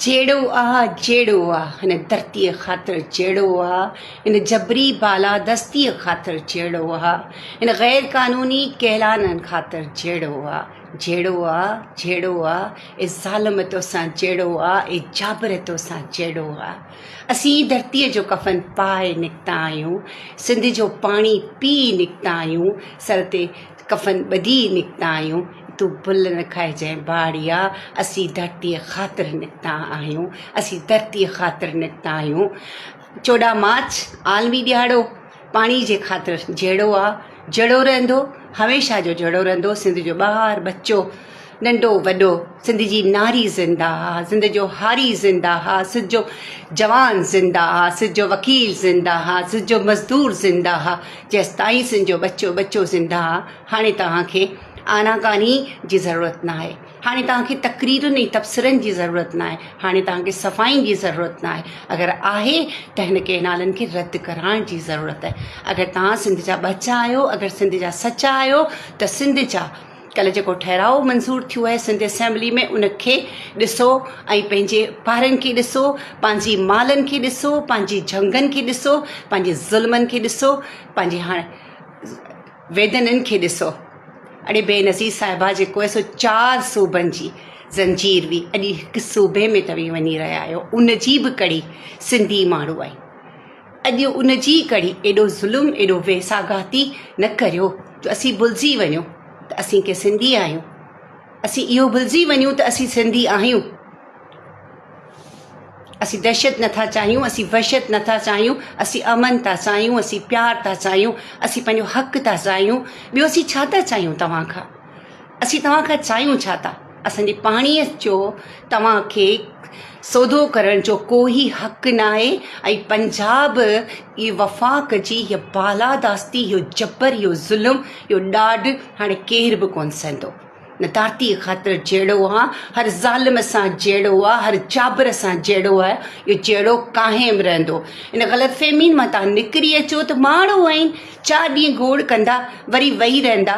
جهيڙو آ جهيڙو آ هن ڌرتيء خاطر جهيڙو آ هن جبري بالادستيء خاطر جهيڙو آ هن غير قانوني ڪيلانن خاطر جهيڙو آ جهيڙو آ جهيڙو آ اي ظالم توسان جهيڙو آ اي جابر توسان جهيڙو آ اسين ئي ڌرتيء جو ڪفن پائي نڪتا آهيون سنڌ جو پاڻي پي نڪتا آهيون سر تي ڪفن ٻڌي نڪتا آهيون، تون ڀل نه کائجانء ڀاڙيا، اسين ڌرتيء خاطر نڪتا آهيون، اسين ڌرتيء خاطر نڪتا آهيون. چوڏهن مارچ عالمي ڏهاڙو پاڻي جي خاطر جهيڙو آ، جهڙو رهندو، هميشه جو جهڙو رهندو، سنڌ جو ٻار ٻچو ننڍو وڏو سنڌ جي ناري زنده آ سنڌ جو هاري زنده آ سنڌ جو جوان زنده آ سنڌ جو وڪيل زنده آ سنڌ جو مزدور زنده آ جيستائين سنڌ جو ٻچو ٻچو زنده آ هاڻي توهان کي آنا ڪاني جي ضرورت ناهي هاڻي توهان کي تقريرن ۽ تبصرن جي ضرورت ناهي هاڻي توهان کي صفائين جي ضرورت ناهي اگر آهي ته هن ڪئنالن کي رد ڪرائڻ جي ضرورت آهي اگر توهان سنڌ جا ٻچا آهيو اگر سنڌ جا سچا آهيو ته سنڌ جا ڪلهه جيڪو ٺهراء منظور ٿيو آهي سنڌ اسيمبلي ۾ ان کي ڏسو ۽ پنهنجي پارين کي ڏسو پنهنجي مالن کي ڏسو پنهنجي جهنگن کي ڏسو پنهنجي ظلمن کي ڏسو پنهنجي هاڻ ويدنن کي ڏسو اڙي بي نظير صاحبا جيڪو سو چار صوبن جي زنجير وي اڄ هڪ صوبي ۾ توهين وڃي رهيا آهيو ان جي به ڪڙي سنڌي ماڻهو آهي اڄ ان جي ڪري ايڏو ظلم ايڏو ويساهگاتي نه ڪريو جو اسين ڀلجي وڃون ته اسين ڪي سنڌي آهيون اسين اهو ڀلجي وڃون ته اسين سنڌي آهيون اسين دهشت نٿا چاهيون اسين وحشت نٿا چاهيون اسين امن ٿا چاهيون اسين پيار ٿا چاهيون اسين پنهنجو حق ٿا چاهيون ٻيو اسين ڇا ٿا چاهيون توهان کان اسين توهان کان چاهيون ڇا ٿا؟ اسان جي پاڻيء جو توهان کي سودو ڪرڻ جو ڪو ئي حق ناهي ۽ پنجاب جي وفاق جي هيء بالاداستي، اهو جبر، اهو ظلم، اهو ڏاڍ هاڻي ڪير به ڪونه سهندو. نه ڌرتيء خاطر جهيڙو آ، هر ظالم سان جهيڙو آ، هر جابر سان جهيڙو آ، اهو جهيڙو قائم رهندو. ان غلط فهمين مان توهان نڪري اچو ته ماڻهو آهن، چار ڏينهن گوڙ ڪندا، وري ويهي رهندا.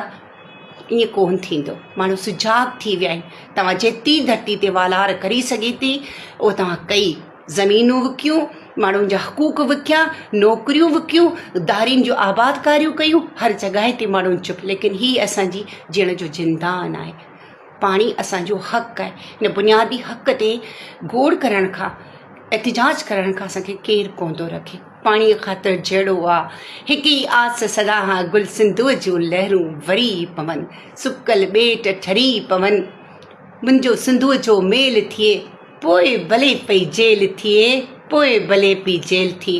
ائين ڪونه ٿيندو ماڻهو سجاڳ ٿي ويا آهن توهان جيتري ڌرتي تي والار ڪري سگهي ٿي اهو توهان ڪئي زمينون وڪيون ماڻهن جا حقوق وڪيا نوڪريون وڪيون دارين جون آبادڪاريون ڪيون هر جڳهه تي ماڻهن چپ ليڪن هي اسانجي جيئڻ جو زندان آهي پاڻي اسان جو حق آهي، ان بنيادي حق تي گوڙ ڪرڻ کان احتجاج ڪرڻ کان اسان کي ڪير ڪو ٿو رکي. پاڻيء خاطر جهيڙو آ، هڪ ئي آس سدا هان گل سنڌوء جون لهرون وري پون، سڪل ٻيٽ ٺري پون، منهنجو سنڌوء جو ميل ٿئي، پوء ڀلي پئي جيل ٿئي، پوء ڀلي پئي جيل ٿئي.